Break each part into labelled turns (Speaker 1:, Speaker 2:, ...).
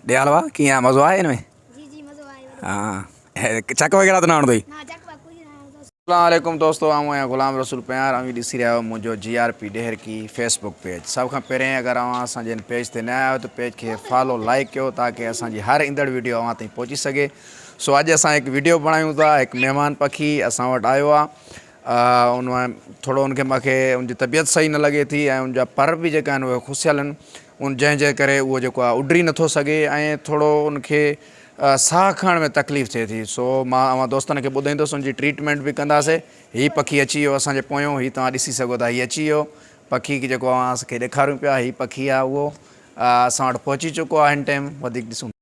Speaker 1: ڏيال وا ڪيئن آ مزو آ ان ۾ جي جي مزو
Speaker 2: آ ها
Speaker 1: چڪ وغيره ته نه هڻدو هي نا
Speaker 2: چڪ وا ڪجھ نا هڻدو اسلام عليڪم دوستو
Speaker 1: آئون آهيان غلام رسول پنهار اوهين ڏسي رهيا آهيو منهنجو G R P Daharki Facebook page سڀ کان پهرين اگر اوهان اسان جي هن پيج تي نه آيا آهيو ته پيج کي فالو لائڪ ڪيو تاڪه اسان جي هر ايندڙ ويڊيو اوهان تائين پهچي سگهي سو اڄ اسان هڪ ويڊيو بڻايون ٿا هڪ مهمان پکي اسان وٽ آيو آهي ان ٿورو ان کي مونکي ان جي طبيعت صحيح نه لڳي ٿي ۽ ان جا پر به جيڪا آهن اهي کسيل آهن ان جنهن جي ڪري اهو جيڪو آهي اڏري نٿو سگهي ۽ ٿورو ان کي ساهه کڻڻ ۾ تڪليف ٿئي ٿي سو مان اوهان دوستن کي ٻڌائيندس ان جي ٽريٽمينٽ به ڪنداسي هي پکي اچي ويو اسان جي پويون هي توهان ڏسي سگهو ٿا هي اچي ويو پکي جيڪو اوهان کي ڏيکاريون پيا هي پکي آهي اهو اسان وٽ پهچي چڪو آهي هن ٽيم وڌيڪ ڏسون ٿا.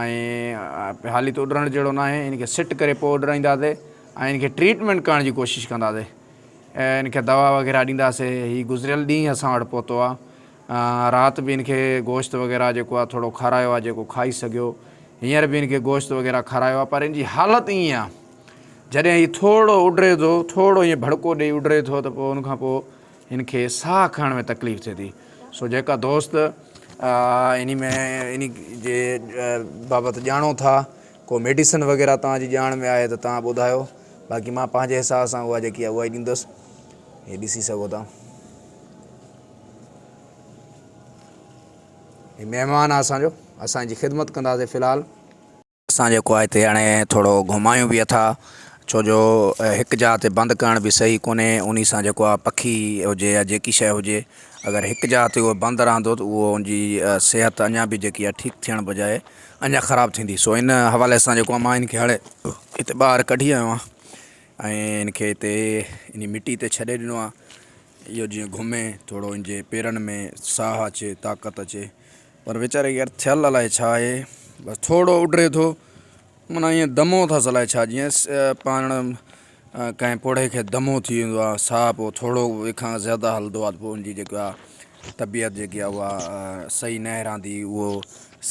Speaker 1: ۽ هالي ته اڏرڻ جهڙو ناهي ان کي سٽ ڪري پوء اڏرائينداسي ۽ ان کي ٽريٽمينٽ ڪرڻ جي ڪوشش ڪنداسي ان کي دوا وغيره ڏينداسي هي گذريل ڏينهن اسان وٽ پهتو آ رات به ان کي گوشت وغيره جيڪو آ ٿورو کارايو آ جيڪو کائي سگهيو هينئر به ان کي گوشت وغيره کارايو آ پر ان جي حالت ائين آ جڏهن هي ٿورڙو اڏري ٿو ٿورڙو ائين ڀڙڪو ڏئي اڏري ٿو ته پوء ان کان پوء ان کي ساهه کڻڻ ۾ تڪليف ٿئي ٿي سو جيڪا دوست انهي ۾ انهي جي بابت ڄاڻو ٿا ڪو ميڊيسن وغيره توهان جي ڄاڻ ۾ آهي ته توهان ٻڌايو باقي مان پنهنجي حساب سان اها جيڪي اها ئي ڏيندس هي ڏسي سگهو ٿا هي مهمان آهي اسان جو اسان جي خدمت ڪنداسي في الحال اسان جيڪو آهي هتي هاڻي ٿورو گهمايون به اٿا ڇو جو هڪ جاء تي بند ڪرڻ به صحيح ڪونهي ان سان جيڪو آهي پکي هجي يا جيڪي شيء هجي اگر هڪ جاء تي هو بند رهندو ته اهو ان جي صحت اڃا به جيڪي آهي ٺيڪ ٿيڻ بجاء اڃا خراب ٿيندي سو ان حوالي سان جيڪو آهي مان ان کي هاڻي هتي ٻاهر ڪڍي آيو آهيان ۽ ان کي هتي ان مٽي تي ڇڏي ڏنو آهي اهو جيئن گهمي ٿورو ان جي پيرن ۾ ساهه اچي طاقت اچي پر ويچاري کي يار ٿيل الائي ڇا آهي بس ٿورڙو اڏري ٿو معنيٰ ائين دمو اٿس الائي ڇا جيئن پاڻ ڪنهن پوڙهي کي دمو ٿي ويندو آهي ساهه پوء ٿورڙو وي کان زياده هلندو آهي ته پوء ان جي جيڪي آهي طبيعت جيڪي آهي اها صحيح نه رهندي اهو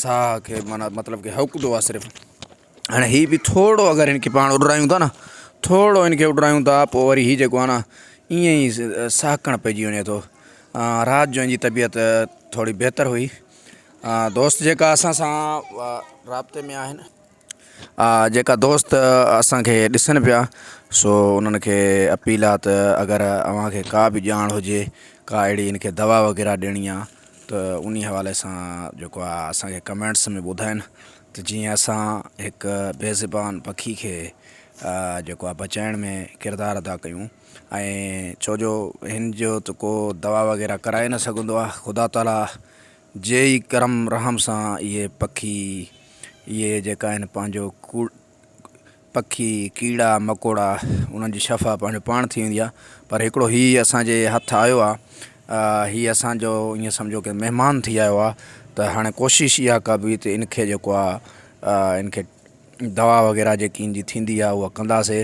Speaker 1: ساهه کي معنيٰ مطلب ڪي هوڪدو آهي صرف هاڻي هي به ٿورڙو اگر هن کي پاڻ اڏرايون ٿا نه ٿورڙو هن کي اڏرايون ٿا پوء وري هي جيڪو آهي نه ائين ئي سهڪڻ پئجي وڃي ٿو رات جو هن جي طبيعت ٿورڙي بهتر هئي دوست جيڪا اسان سان رابطي ۾ آهن جيڪا دوست اسانکي ڏسن پيا سو انهن کي اپيل آ ته اگر اوهان کي ڪا به ڄاڻ هجي ڪا اهڙي هن کي دوا وغيره ڏيڻي آ ته انهي حوالي سان جيڪو آ اسانکي ڪمينٽس ۾ ٻڌائين ته جيئن اسان هڪ بي زبان پکي کي جيڪو آهي بچائڻ ۾ ڪردار ادا ڪيون ۽ ڇو جو هن جو ته ڪو دوا وغيره ڪرائي نه سگهندو آهي خدا تعاليٰ جي ئي ڪرم رحم سان اهي پکي اهي جيڪا آهن پنهنجو ڪوڙ پکي، ڪيڙا مڪوڙا انهن جي شفا پنهنجو پاڻ ٿي ويندي آهي پر هڪڙو هي اسان جي هٿ آيو آهي هي اسان جو ايئن سمجهو ڪي مهمان ٿي آيو آهي ته هاڻي ڪوشش اها ڪبي ته ان کي جيڪو آهي ان کي دوا وغيره جيڪي ان جي ٿيندي آهي اها ڪنداسي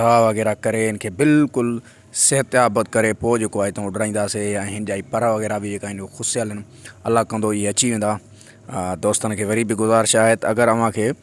Speaker 1: دوا وغيره ڪري ان کي بلڪل صحت ياب ڪري پوء جيڪو آهي هتان اڏرائينداسي ۽ هن جا پر وغيره به جيڪا آهن کسيل آهن الله ڪندو اهي اچي ويندا دوستن کي وري به گذارش آهي ته اگر اوهان کي